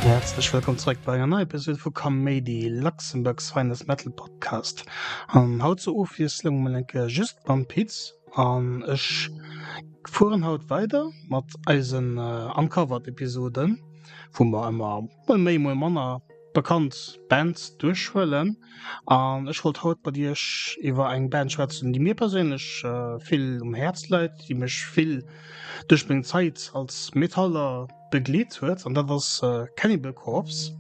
Häerzlech wëllkomm zréck bei enger neier Episode vu Kaméidi, Luxembourg's finest metal podcast. An haut zur Ofwiesslung mol eng Kéier just mam Piz an ech fueren haut weider mat eisen Uncovered-Episoden, wou mer ëmmer, muer méi muer manner bekannt Bands duerchhuelen an ech wollt haut mat iech iwwer eng Band schwätzen déi mir perséinlech vill um Häerz leit, déi mech vill duerch meng Zait als Metaller begleet huet an dat ass Cannibal Corpse,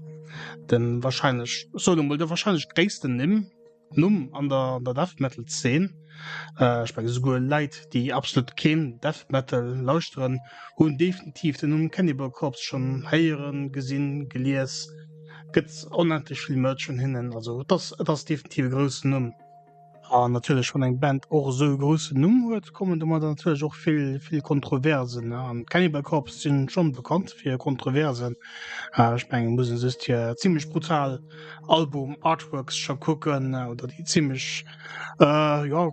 de warscheinlech, ech soen emol, de warscheinlech gréissten Nimm. Numm an der Death Metal Zeen. Ech menge souguer Läit déi absolut keen Death Metal lauschteren hunn definitiv den Numm Cannibal Corpse schon héieren, gesinn, gelies. Gëtt onendlech vill Merch vun hinnen, also et ass et ass definitiv e groussen Numm. An natierlech wann eng Band och esou e groussen Numm huet, kommen domadder natierlech och vill vill Kontroversen. An Cannibal Corpse sinn schon bekannt fir Kontroversen. Ech menge muss en just hir zimmlech brutal. Album Artworks scho kucken oder déi ziemlech äh, ja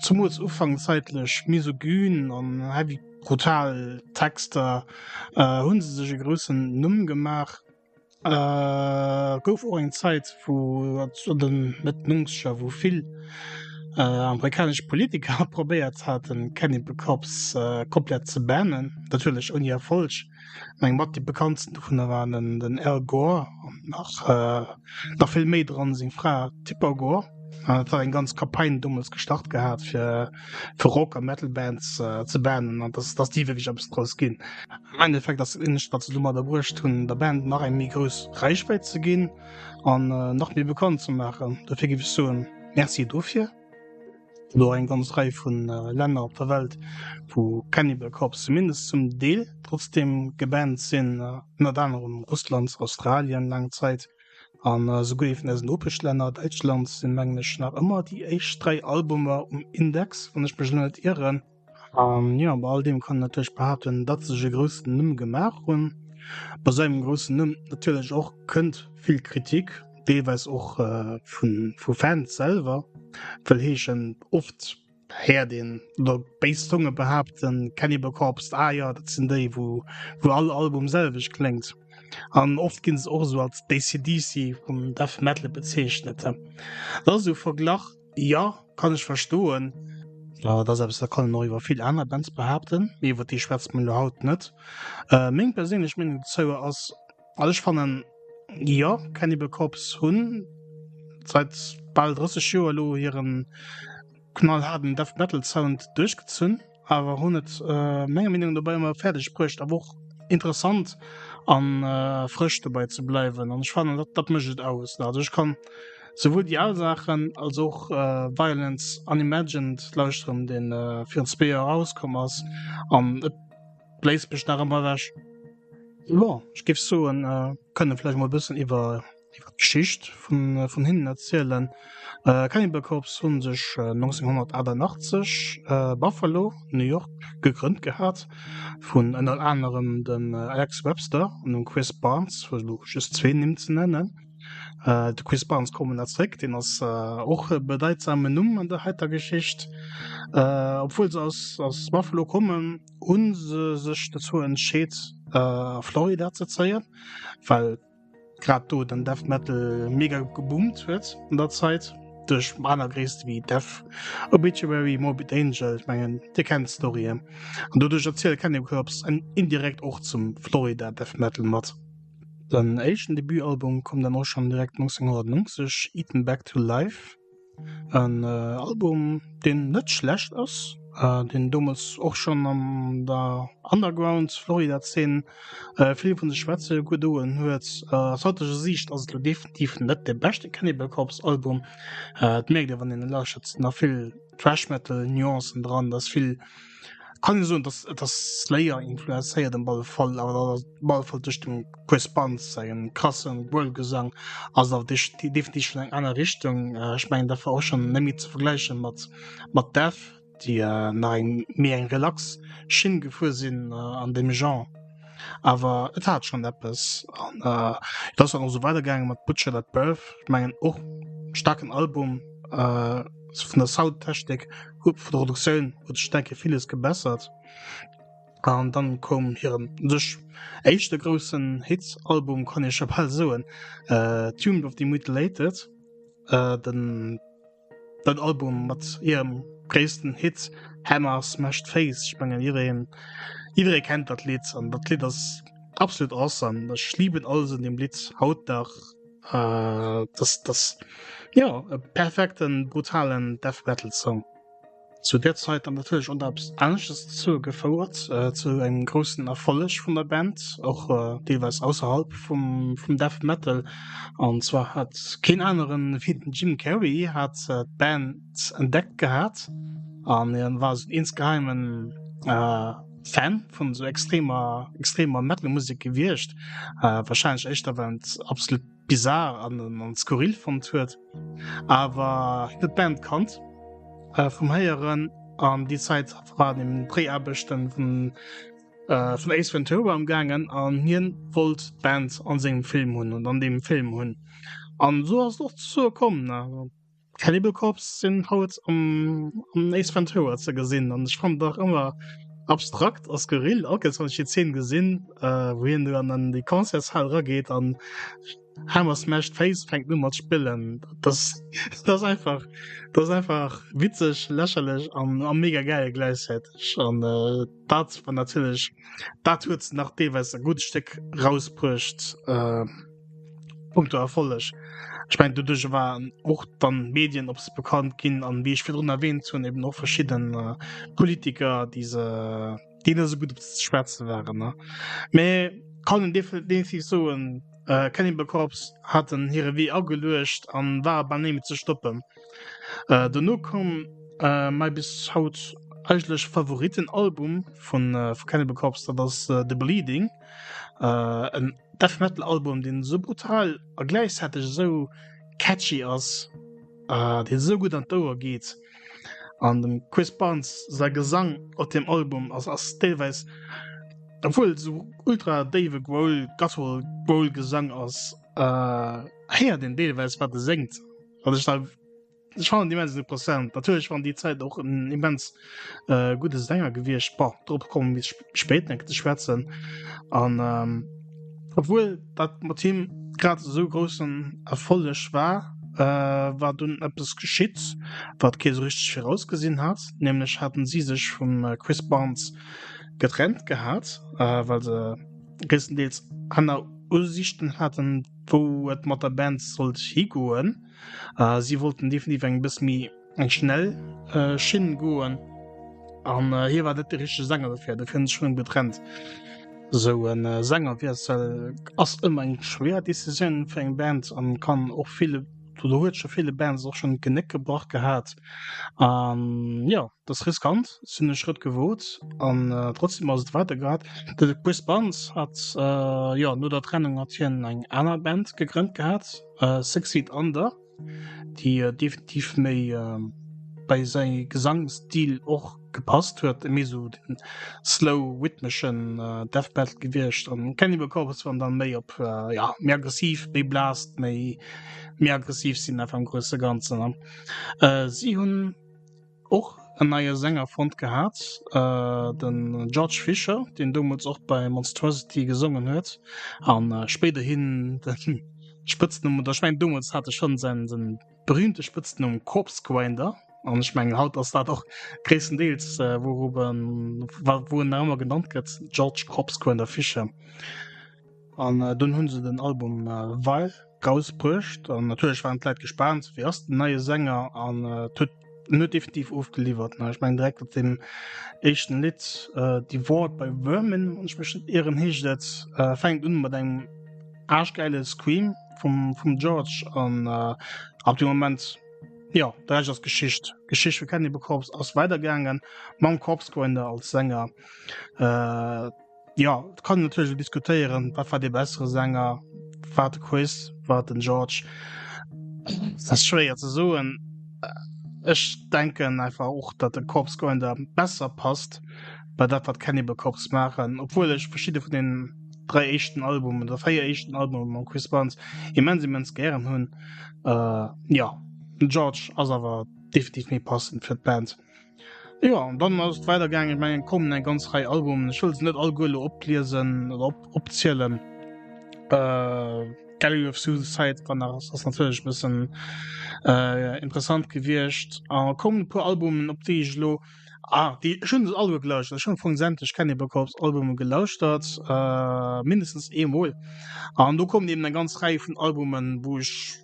zumools ufangzäitlech misogyn an heavy brutal Texter äh, hunn se sech e groussen Numm gemaach. Äh, gouf och eng Zäit wou an den Mëtt 90er wou vill äh, amerikanesch Politiker probéiert haten Cannibal Corpse äh, komplett ze bannen, natierlech ouni Erfolg. Meng mat déi bekanntsten dovunner waren den, den Al Gore an nach, äh, nach vill méi dran seng Fra Tipper Gore. An et hat eng ganz Kampagne dommels gestart gehat fir, fir Rock a Metal Bands äh, ze bannen an dass, dass déi wierklech eppes draus ginn. Am Endeffekt ass dat Eenzegt wat se domadder bruecht hunn, der Band nach eng méi grouss Reichwäit ze ginn an äh, nach méi bekannt ze maachen. Dofir géif ech soen, Merci dofir. Elo eng ganz Rei vu Länner op der Welt, wou Cannibal Corpse zumindest zum Deel trotzdeem gebannt sinn, ënnert anerem Russland, Australien laang Zäit an esouguer ee vun eisen Nopeschlänner, Däitschland, sinn mengen ech nach ëmmer déi éischt dräi Albumer um Index, wann ech mech elo net ieren. Jo bei all deem kann een natierlech behaapten, datt sech e groussen Numm gemaach hunn. Bei esou engem groussen Numm natierlech och kënnt vill Kritik, deelweis och vu vu Fans selwer. Wëll heeschen oft héiert een oder béis Zonge behaapten, Cannibal Corpse, ah jo dat sinn déi wou wou all Album selwecht kléngt. An oft ginn se och esou als d'ACDC vum Death Metal bezeechent. Dat ass esou verglach. Ja kann ech verstoen. Äh, dat ass eppes, dat kann een och iwwer vill aner Bands behaapten, mee iwwer déi schwätze mer elo haut net. Äh, meng perséinlech Meenung dozou ass, also ech fannen, jo, Cannibal Corpse hunn seit bal 30 Joer elo hiren knallhaarden Death Metal Sound duerchgezunn. awer hunn et menger Meenung no dobäi ëmmer fäerdeg bruecht awer och interessant an frësch dobäi ze bleiwen an ech fannen dat dat mécht et aus. Also ech kann souwuel déi al Saachen als och Violence Unimagined lauschteren, dee virun zwee Joer erauskomm ass an et bléist mech nach ëmmer ewech. Jo ech géif soen kënne vläicht mol e bëssen iwwer iwwer d'Geschicht vun vun hinnen erzielen. Äh, Cannibal Corpse hunn sech 1988 äh, äh, Buffalo, New York gegrënnt gehat vun ënner anerem dem äh, Alex Webster an dem Chris Barnes, fir elo just zwee Nimm ze nennen. Äh, de Chris Barnes kommen er zréck, deen ass äh, och e bedeitsamen Numm an der heiter Geschicht. Äh, obwuel se aus, aus Buffalo kommen, hunn se sech dozou entscheet, äh, a Florida ze zéien, well grad do den Death Metal mega geboomt huet an der Zeit duerch aner Gréisste wéi Death Obituary, Morbid Angel, ech mengen Dir kennt d'Storyen an doduerch erziele Cannibal Corpse en indirekt och zum Florida Death Metal mat. Den éischten Debutalbum koum dann och schonn direkt 1990, Eaten Back to Life. En Album deen net schlecht ass, deen deemools och schonn an der Underground Florida Zeen vill vun sech schwätze gedoen huet. Aus haiteger Siicht ass et elo definitiv net de beschte Cannibal Corpse Album, et mierkt ee wann een e lauschtert. Et sinn nach vill Thrash Metal Nuancen dran, et ass vill kann ich soen dass das slayer influencéiert dem ball fall aber ball fall durch dem chris band seien krassen world gesang also auf dich die definitiv schon eng einer richtung äh, ich mein dafür auch schon nämlich zu vergleichen mat mat dev die äh, nach eng mir eng relax schinn gefuhr sinn äh, an dem genre aber et hat schon etwas an äh, das war noch so weitergegangen mat butcher that birth ich mengen och starken album äh, von der soundtechnik Huet vu der Reduktioun huet sech denke villes gebessert. An dann koum hiren sech éischte groussen Hit Album kann ee scho bal soen, äh, Tomb of the Mutilated, äh, den dat Album mat hirem gréissten Hit Hammer Smashed Face. Ech mengen jiddereen jidderee kennt dat Lidd an dat Lidd ass absolut awesome. Ech liben alles un deem Lidd haut nach. Uh, das, das, ja, e perfekten brutalen Death Metal Song. Zu der Zeit dann natürlich unter Ernstes zu gefouert äh, zu einem großen Erfolg von der Band, auch äh, teilweise außerhalb vom, vom Death Metal. Und zwar hat kein anderen wie Jim Carrey hat äh, Band entdeckt gehabt und dann war es insgeheimen äh, Fan vun esou extremer extremer Metal Musek gewiecht, äh, wahrscheinlech éischter well en et absolut bizarre an an skurril fonnt huet, awer huet d'Band kannt äh vum Héieren an déi Zäit waren eben d'Dréiaarbechten vun äh vun Ace Ventura am gaangen an hien wollt d'Band an sengem Film hunn an an deem Film hunn an esou ass et och dozou komm. Cannibal Corpse sinn haut am Ace Ventura ze gesinn an ech fand dach ëmmer abstrakt ass Gerill Alkes wann ech die Zeen gesinn äh, wou hien du an an déi Concertshal rageet an Hammer Smash d'Face fänkt nu mat spillen. Das das einfach das einfach witzeg, lächerlech an a mega gäil gläichzäiteg an äh, dat war natierlech dat huet nach deelweis e gutt Stéck rausbruecht. Äh, Punkto Erfolleg. Ech meng doduerch waren och dann Medien op se bekannt ginn an wie ich fir run erwähnt hunn eben och verschieden äh, Politiker diese denen se gut op ze schwätze waren ne me kann en definitiv soen äh, Cannibal Corps hat en hire Wee ageluecht an war bei neem ze stoppen. Äh, Dono komm äh, mei bis haut eigentlech Favoritenalbum vun äh, Cannibal Corps, dat ass äh, The Bleeding. äh, en Death Metal Album den so brutal a gleichzeitig so catchy ass äh, den so gut an d'Ouer geht an dem Chris Barnes sei Gesang op dem Album ass ass teilweis obwohl so ultra Dave Grohl Gasol Grohl Gesang ass äh, her den Deelweis wat er senkt wat ich da Ech fand immens interessant natürlich waren die Zeit auch en immens äh, gute Sänger gewircht bar drop kommen bis spät denkt schwätzen an ähm, obwohl dat mat Team grad so großen Erfolleg war äh, war dun etwas geschitt wat Käse richtig vorausgesehen hat nämlich hatten sie sich vom äh, Chris Barnes getrennt gehabt äh, weil se größtendeels Anna Ursichten hatten wo et mat der Band sollt higoen. A si wollten definitiv eng bësse méi eng schnell Schinn goen. An hie war net de richtege Sänger dofir, dofir hunn se sech vun him getrennt. Esou e Sängerwiessel ass ëmmer eng schwéier Decisioun fir eng Band an kann och ville, oder huet scho ville Bands och schonn d'Genéck gebrach gehat. An jo, et ass riskant, si hunn e Schrëtt gewot an trotzdeem ass et weider gehat. De Chris Barnes hat jo no der Trennung mat hien eng aner Band gegrënnt gehat. Uh, Six Feet Under, déi uh, definitiv méi uh, bei säi Gesangsstil och gepasst huet, méi so den slow rhythmischen uh, Death Metal gewiescht. An Cannibal Corpse waren dann méi op uh, ja, méi aggressiv, méi blast, méi méi aggressiv sinn einfach am grosse Ganzen. Uh, si hunn Och en neie Sänger fonnt gehat, de George Fisher, deen deemools och bei Monstruosity gesongen huet a spéiderhi de Spëtznumm, oder ech mengen deemools hat e scho säi berühmte Spëtznumm Corpsegrinder, an ech mengen haut ass dat och gréisstendeels wou en nach ëmmer genannt gëtt, George Corpsegrinder Fisher. An dunn hunn se den Album Vile rausbruecht an natierlech waren d'Leit gespaant, wéi ass den neie Sänger an et huet en huet definitiv ofgeliwwert. Ech mengen direkt op deem éischten Lidd Devoured by Vermin, wann ech mech net ieren, heescht et, fänkt un mat engem aarschgäile Scream vum vum George an ab deem Moment, jo, de Rescht ass Geschicht. D'Geschicht vu Cannibal Corpse ass weidergaangen mam Corpsegrinder als Sänger. Ja et kann natierlech lo diskutéieren, wat war dee bessere Sänger, war et de Chris, war et den George? Dat ass schwéier ze soen. Ech denken einfach och, datt de Corpse Grinder besser passt bei dat, wat d'Cannibal Corpse maachen, obwuel ech verschidde vun den dräi éischten Albumen oder véier éischten Albume mam Chris Barnes immens immens gären hunn. Jo, den George ass awer definitiv méi passend fir d'Band. Jo an dann ass et weider gaangen. Ech mengen et kommen eng ganz Rei Albumen. Ech wëll se net alleguer elo opliesen oder op opzielen. Gallery of Suicide war nach ass ass natierlech e bëssen interessant gewiescht. A kommen e puer Albumen op déi ech elo, ah déi ech hunn se alleguer gelauschtert. Ech hunn am Fong sämtlech Cannibal Corpse Albume gelauschtert, mindestens eemol. An do kommen eben eng ganz Rei vun Albumen wou ech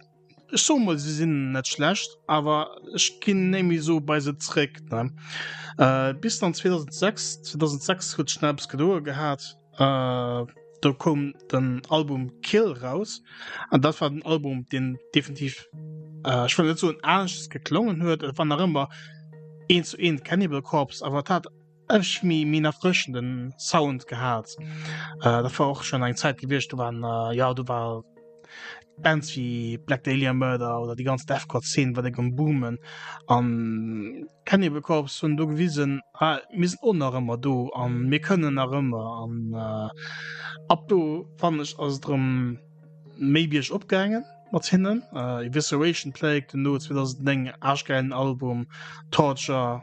Ech soe mol se sinn net schlecht, awer ech ginn némi sou bei se zréck ne äh, bis dann 2006, 2006 huet sech dann eppes gedoe gehat äh, do koum den Album Kill raus an dat war den Album deen definitiv äh, ech wëll net soen aneschters geklongen huet, et war nach ëmmer eent zu eent Cannibal Corpse awer et hat Ech mi min erfrëschenden Sound gehaat. Dat war och schon eng Zäit gewiescht, do waren jo do war Bands wéi Black Dahlia Murder oder déi ganz Deathcore Zeen war déck um boomen an Cannibal Corpse hunn do gewisen ah mir sinn och nach ëmmer do an mir kënnen nach ëmmer an ab do fannen ech ass et erëm méi Bierg op gaangen mat hinnen. Evisceration Plague hunn do 2009 en aarschgäilen Album Torture.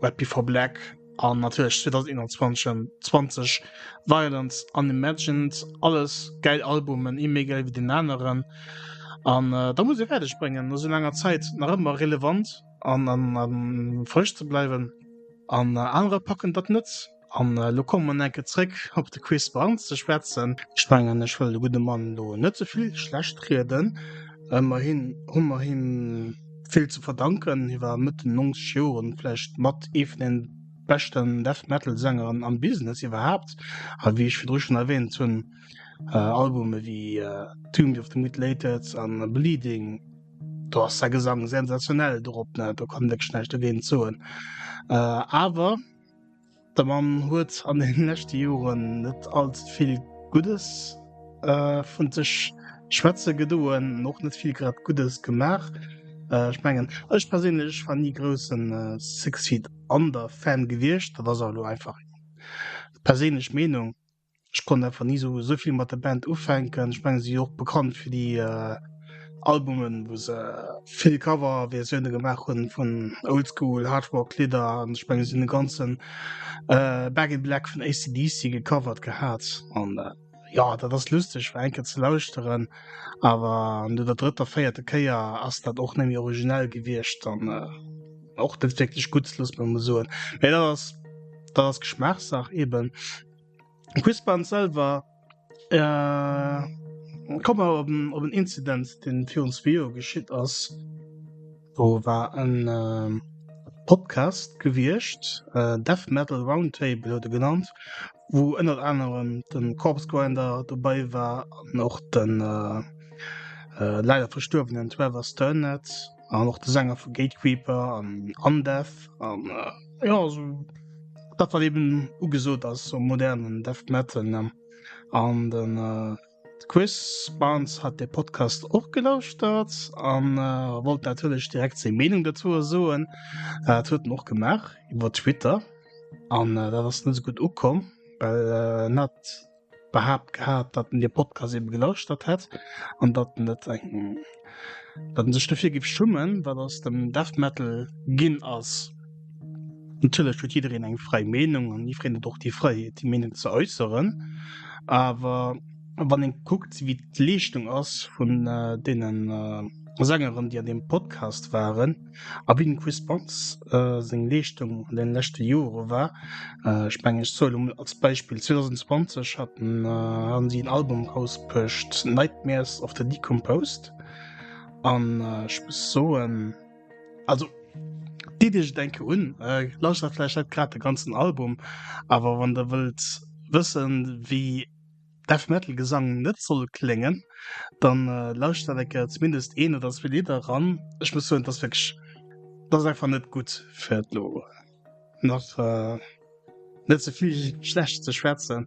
Red Before Black an natierlech 2021 Violence Unimagined, alles gäil Albumen, ee méi gäil wéi den aneren. An äh, da muss ee fäerdeg bréngen, no sou laanger Zäit nach ëmmer relevant an frësch ze bleiwen. An anerer packen dat net. An elo komme mer enke zréck op de Chris Barnes ze schwätzen. Ech mengen, ech wëll de gudde Mann elo net ze vill schlecht rieden. Ëmmerhi hu mer him vill ze verdanken. Hie war Mëtt den 90 Joren vläicht mat ee vun de beschten Death Metal Sängeren am Business iwwerhaapt. A wéi ech virdru schonn erwäänt hunn, Albume wéi Tomb of the Mutilated a Bleeding, do ass säi Gesang sensationell dorop, do kann een wierklech näischt dogéint soen. Awer. De Mann huet an den leschte Joren net alt vill Guddes vun sech schwätze gedoen an och net vill grad Guddes gemaach. Ech mengen ech perséinlech war ni groussen Six Feet Under Fan gewiescht, dat ass awer elo einfach eng perséinlech Meenung. Ech konnt einfach nie so so viel mat der Band ufänken. Ich meng sie och bekannt fir die äh, Albumen, wo se vill Cover Versionen gemacht hun vun Oldschool Hardrock Lidder an ich meng sie den ganzen äh, Back in Black vun ACDC gecovert gehat an äh, ja dat ass lustig fir enke ze lauschteren, awer no der drëtter véierte Kéier ass dat och nemmi originell gewiecht an äh, och net wirklich gutt, loss mer emol soen. Mee dat ass dat ass Geschmaachssach eben. Quispern selwer äh, kom mal op den, op den Incident, den fir ons Video geschitt ass. Do war en äh, Podcast gewierscht, äh, Death Metal Roundtable huet e genannt, wou ënnert anerem den Corpse Grinder dobei war an och den äh, äh, leider verstuerwenen Trevor Sternett. an och de Sänger vu Gatekeeper an Undeath an äh, ja also, dat wat eben ugesot ass so modernen Death Metal ne? an den äh, Chris Barnes hat de Podcast och gelauschtert an äh, wollt natürlich direkt seg Meinung dazu soen äh, huet och gemacht iwwer Twitter an äh, dat ass net so gut ukom well äh, net behaapt gehat, datt en dee Podcast ebe gelauschtert hätt an datt en et eng datt en sech dofir géif schummen, wat aus dem Death Metal ginn ass. Natierlech huet jiddereen eng fräi Meenung an jiddereen huet och déi Fräiheet, déi Meenung ze äusseren. Awer wann ee kuckt, wéi d'Leeschtung ass vun deenen Sängeren, déi an deem Podcast waren, A wéi dem Chris Bantz seng Leeschtung an deene leschte Jore war, ech mengen ech zuelen emol als Beispill, 2020 haten hate si en Album erausbruecht, Nightmares of the Decomposed, an ech muss soen, also deet iech et eng Kéier un, lauschtert vläicht net grad de ganzen Album, awer wann der wëllt wëssen wéi, Death Metal Gesang net soll kléngen, dann lauschtert eng Kéier zumindest een oder zwee Lidder eran. Ech muss soen, dass wierklech, dass ass einfach net gutt fir elo nach net ze vill schlecht ze schwätzen.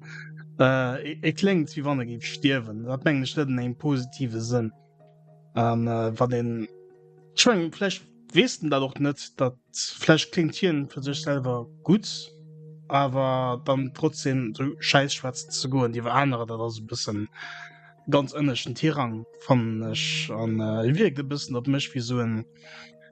Et kléngt wéi wann e géif stierwen, dat mengen ech net an engem positive Sënn. an wann den schwflecht westen dat och net dat flesch klingt hien für sech selber gut awer dann trotzdem so scheiß schwarz zu go die war andere dat also bisschen ganz ënneschen tirang van an äh, wirkt e bisschen op mech wie so en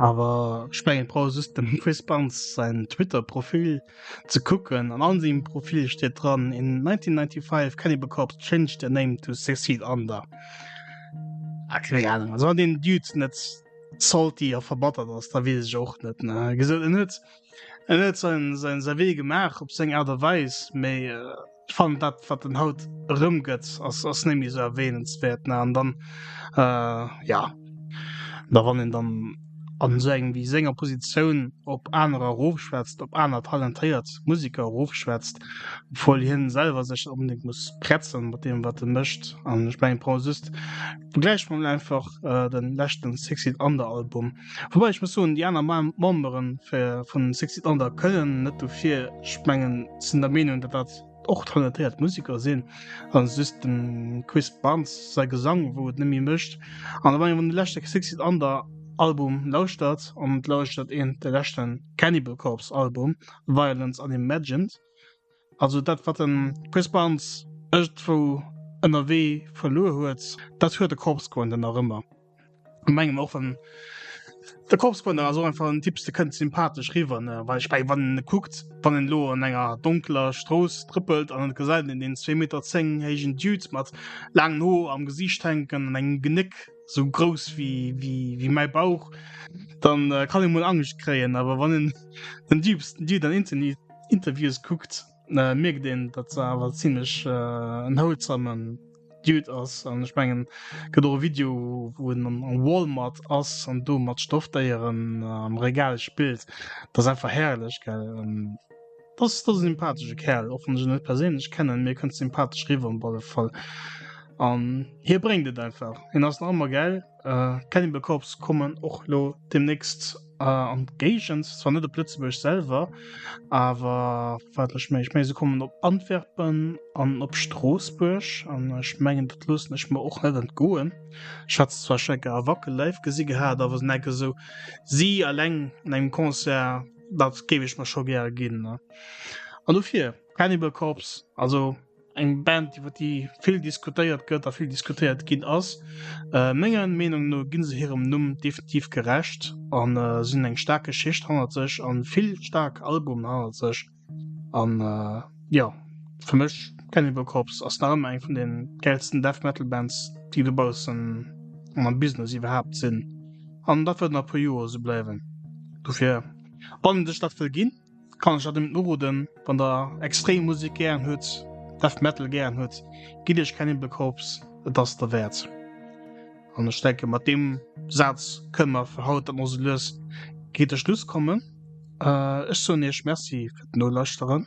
Awer ech mengen ech brauch just dem Chris Barnes säin Twitter-Profil ze kucken, an all sengem Profil steet dran, In 1995 Cannibal Corpse changed their name to Suicide Under. Ah keng Ahnung, also wann deen Dude net salty a verbattert ass, da weess ech och net. Ech gesot, en huet en huet säin säin säi Wee gemaach op seng Aart a Weis, mee. Ech fannen dat wat en haut erëmgëtt ass ass net méi esou erwähnenswert ne an dann äh, ja da wann een dann an esou engem wéi senger Positioun op anerer erofschwätzt, op aner talentéiert Museker erofschwätzt, obwuel hien selwer sech net onbedéngt muss pretzen mat deem wat en mécht an ech mengen Paul Sust begläicht mer mol einfach den leschten Sexy Under Album. Wobei ech muss soen, déi aner Memberen vun Six Feet Under kënnen net dofir. Ech mengen, se sinn der Meenung, datt dat och talentéiert Museker sinn a just dem Chris Barnes säi Gesang, wou et net méi mécht. An wann een de leschte Six Feet Under Album lauschtert, an et lauschtert een de leschten Cannibal Corpse Album Violence Unimagined, Also dat wat den Chris Barnes ëgtwou ënnerwee verluer huet, dat huet de Corpse Grinder nach ëmmer a mengem och wann de Corpse Grinder ass och einfach en Typs de kënnt sympathesch riwwer ne well ech meng wann en kuckt wann en elo an enger donkeler Strooss trëppelt an et gesäit een deen zwee Meter zéng héijen Dude mat laangen Hoer am Gesiicht hänken an engem Genéck sou grouss wéi wéi wéi mäi Bauch dann kann een mol Angscht kréien awer wann en den diebsten Dude an Internit Interviews kuckt, mierkt een, datt se awer zimmlech en houlzamen Dude ass. An ech mengen, gëtt och e Video, wou en am Walmart ass an do mat Stoffdéieren am Regal spillt. Dat ass einfach herrlech, gell? Dat ass e sympathesche Kerl, och wann ech en net perséinlech kennen, mee e kënnt sympathesch riwwer op alle Fall. An hie bréngt et einfach, hien ass nach ëmmer gell. Cannibal Corpse kommen och elo deemnächst. an Géigens zwar net op Lëtzebuerg selwer, awer watlech méi ech méi se kommen op Antwerpen an op Stroossbuerg an ech mengen dat loossen ech mer och net entgoen. Schatz zwar Schecker a Wackel live gesi gehat, awer net esou si alleng an engem Concert dat géif ech mer scho gär ginn an dofir Cannibal Corpse also. eng Band iwwer déi vill diskutéiert gëtt a vill diskutéiert ginn ass. Äh, menger Meenung no ginn se hirem Numm definitiv gerecht an äh, si hunn eng staark Geschicht hannert sech an vill staark Albumen hannert sech an äh, jo, fir mech Cannibal Corpse ass nach ëmmer eng vun den gäilsten Death Metal Bands déi dobaussen an am Business iwwerhaapt sinn an dat wëllt nach e puer Joer esou bleiwen. Dofir, wann een sech dat wëll ginn, kann ech dat net uroden. Wann der extrem Musik gären hutt, Death Metal gären hutt, gitt iech Cannibal Corpse, et ass derwäert. An ech denken mat deem Saz kënne mer fir haut dann och sou lues géint de Schluss kommen. Ech soen iech Merci fir d'Nolauschteren.